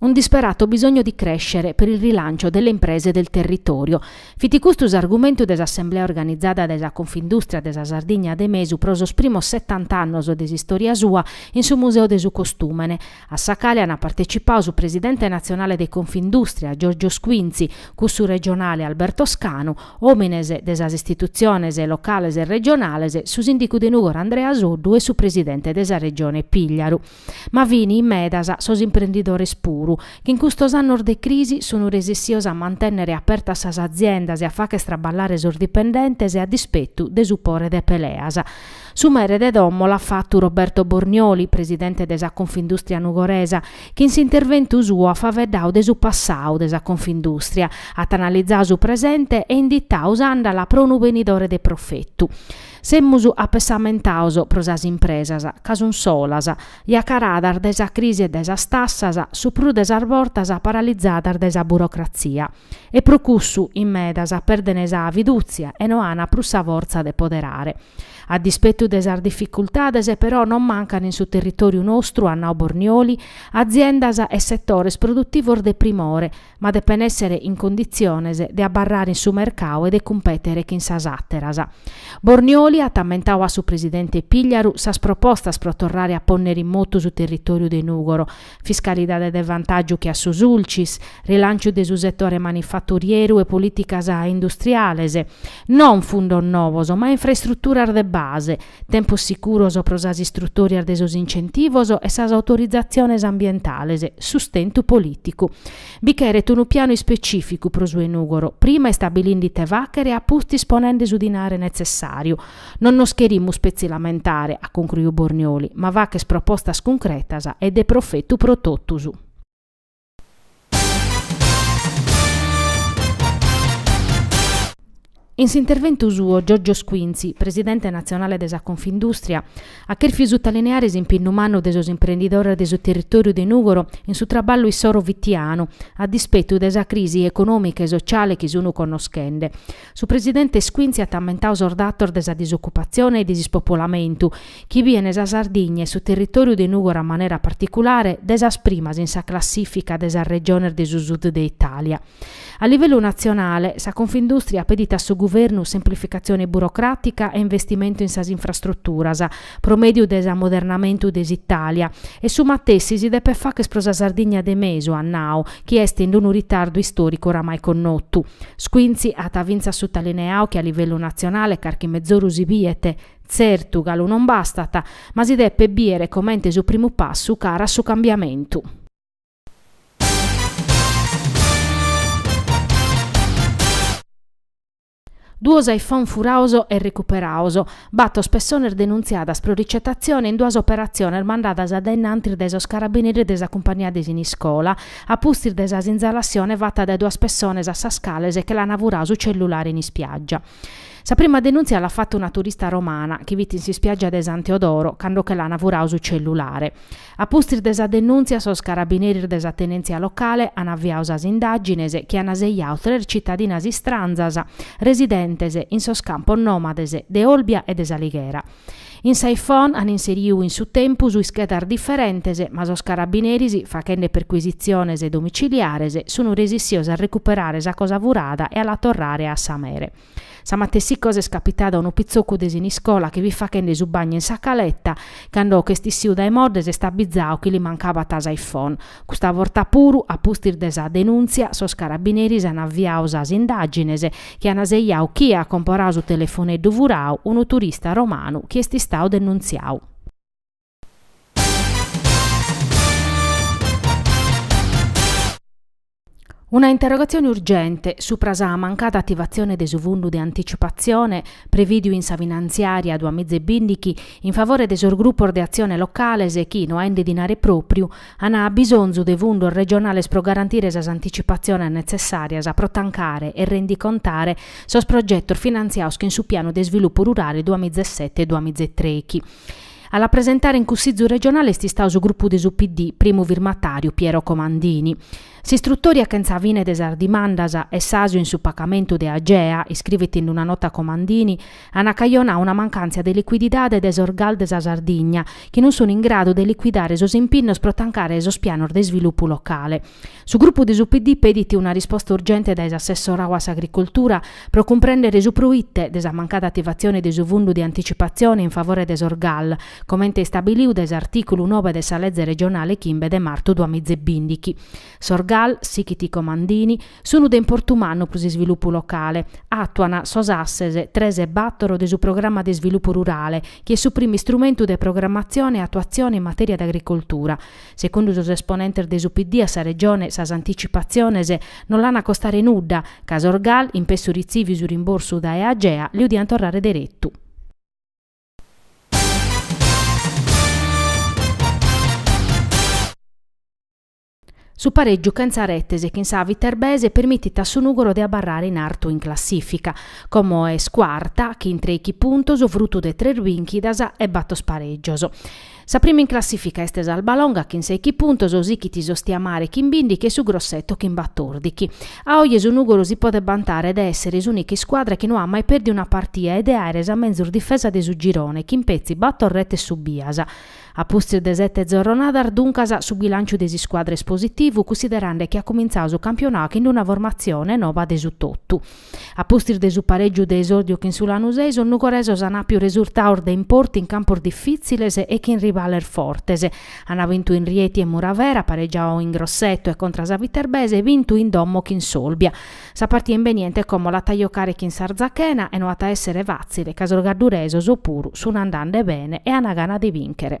Un disperato bisogno di crescere per il rilancio delle imprese del territorio. Fit custu s'argumentu de s'assemblea organizada dae sa Confindustria de sa Sardigna de Mesu pro sos primos settant'annos de s'istoria sua in su Museu de su Costùmene, a sa cale ant partecipadu su presidente natzionale de Confindustria, Giorgio Squinzi, cussu regionale Alberto Scanu, òmines de sas istitutziones locales e regionales, su sìndicu de Nùgoro Andrea Soddu e su presidente de sa Regione Pìgliaru. Ma fini medas sos imprendidores puru, chi in custos annos de crisi sunu resessios a mantennere apertas sas aziendas e a fagher traballare sos dipendentes e a dispetu de su pore de peleas. Su mere de domo l'at fatu Roberto Bornioli, presidente de sa Confindustria nugoresa, chi in s'interventu suo at faeddadu de su passadu de sa Confindustria, at analizadu su presente e inditadu s'andala pro unu benidore de profetu. Semus apessamentados pro sas impresas, ca sun solas, isacaradas dae sa crisi e dae sas tassas, su prus de sas bortas paralizadas dae sa burocratzia, e pro cussu in medas perdent sa fidùtzia e no ant prus sa fortza de poderare. A dispetu de sas dificultades, però, non mancant in su territòriu nostru, at nau Bornioli, aziendas e setores produtivos de primore, ma depen èssere in conditziones de abarrare in su mercadu e de cumpètere chin sas àteras. Bornioli at ammentadu a su presidente Pigliaru sas propostas pro torrare a pònnere in motu su territòriu de Nùgoro, fiscalidade de vantàgiu che a su Sulcis, rilànciu de su setore manifaturieru e polìticas industriales, non fundos novos ma infraestruturas de base, tempos sicuros pro sas istrutòrias de sos incentivos e sas autorizatziones ambientales, sustentu polìticu. Bi cheret unu pianu ispecìficu pro su 'e Nùgoro, prima istabilinde ite fàghere e a pustis ponende su dinare netzessàriu. Non nos cherimus petzi lamentare, at concruiu Bornioli, ma fagher propostas cuncretas e de profetu pro totus. In s'interventu suo Giorgio Squinzi, presidente natzionale de sa Confindùstria, at chèrfiu sutalineare s'impinnu mannu de sos imprendidores de su territòriu de Nùgoro in su traballu issoro fitianu, a dispetu de sa crisi econòmica e sotziale chi sun connoschende. Su presidente Squinzi at ammentadu sos datos de sa disocupatzione e de s'ispopolamentu, chi biene sa Sardigna e su territòriu de Nùgoro a manera particulare, de sas primas in sa classìfica de sas regiones de su sud de Itàlia. A livellu natzionale, sa Confindùstria pedit a su guvernu semplificatzione burocràtica e investimentu in sas infrastruturas, pro mèdiu de s'amodernamentu de s'Itàlia, e su matessi si depet fagher pro sa Sardigna de mesu, at nau, chi est in unu ritardu istòricu oramai connotu. Squinzi at fintzas sutalineadu chi a livellu natzionale carchi mezoru si biet, tzertu, galu non bastat, ma si depet bìere comente su primu passu cara a su cambiamentu. Duos iPhone furados e recuperados, bator pessones denuntziadas pro ricetatzione in duas operatziones mandadas a dainantis dae sos carabineris de sa cumpagnia de Siniscola, a pustis de sa sinzalassione fata dae duas pessones a sas cales che l'ana furadu su cellulare in ispiaggia. Sa prima denuntzia l'at fata una turista romana, chi fit in s'ispiaggia de San Teodoro cando che l'ana furadu su cellulare. A pustis de sa denùntzia sos carabineris de sa tenèntzia locale an aviadu sas indàgines chi an sejadu tres citadinas istranzas residentes in sos campos nòmades de Olbia e de S'Alighera. In sa iPhone an inseridu in su tempus ischedas diferentes ma sos carabineris, faghende percuisitziones domiciliares, sun resissios a recuperare sa cosa furada e a la torrare a sa mere. Sa matessi cosa est capitada a unu pitzocu de Siniscola chi fit faghende su bagnu in sa caleta, cando che est issiu dae modde s'est abbizau chi li mancabat sa iPhone. Custa borta puru, a pustis de sa denuntzia, sos carabineris an aviau sas indàgines chi an sejau chie at comporau su telefoneddu furau, unu turista romanu chi est istau denuntziau. Una interrogatzione urgente supra sa mancada ativatzione de su fundu de anticipatzione prevìdiu in sa finantziària duas miza e bìndighi in favore de sos grupos de atzione locales chi, no aende dinare pròpriu, an bisonzu de fundos regionales pro garantire sas anticipatziones netzessàrias pro tancare e rendicontare sos progetos finantziados chin su Pianu de isvilupu rurale duas miza e sete-duas miza e trèighi. A la presentare in Cussizu regionale est istadu su grupu de su PD, primu firmatàriu Piero Comandini. S'istrutòria chentza fine de sas dimandas e s'àsiu in su pagamentu de Agea, iscrivit in una nota Comandini, an acajonadu una mancàntzia de licuididade de sos gal de sa Sardigna, chi non sun in gradu de licuidare sos impinnos pro tancare sos pianos de isvilupu locale. Su grupu de su PD pedit una risposta urgente dae s'assessorau a s'Agricoltura pro cumprèndere su proite de sa mancada ativatzione de su fundu de anticipatzione in favore de sos gal, comente istabiliu dae s'artìculu nobe de sa leze regionale chimbe de martu duas miza e bìndighi. Sos gal, sighit Comandini, sunu de importu mannu pro s'isvilupu locale. Àtuan sos asses tres e bàtoro de su Programma de isvilupu rurale, chi est su primu istrumentu de programmatzione e atuatzione in matèria de agricoltura. Secundu sos esponentes de su PD a sa Regione sas anticipatziones non l'an a costare nudda, ca sos GAL, in pessu ritziviu su rimborsu dae Agea, liu diant torrare deretu. Su pareggiu chentza retes chin sa Viterbese permitit a su Nugoro de abarrare in artu in classifica, como est cuarta, chin treichi puntos, frutu de tres binchidas e bator pareggios. Sa prima in classìfica est s'Albalonga chin sèichi puntos, sighit s'Ostiamare chin bìndichi e su Grosseto chin batòrdichi. A oje su Nùgoro si podet bantare de èssere s'ùnica iscuadra chi no at mai pèrdiu una partia e de àere sa menzus difesa de su girone chin petzi bator retes subias. A pustis de sete zorronadas, duncas, su bilànciu de s'iscuadra est positivu, cunsiderande chi at cumintzau su campionau chin una formatzione noba de su totu. A pustis de su parègiu de esòrdiu chin su Lanusei sos nugoresos an àpiu resurtaos de importu in campos difìtziles e chin rivales fortes. An bintu in Rieti e Muravera, paregiau in Grosseto e contra sa Viterbese e bintu in domo chin s'Olbia. Sa partia imbeniente como l'at a jocare chin s'Arzachena e no at a èssere fàtzile ca sos gadduresos puru sun andande bene e an gana de bìnchere.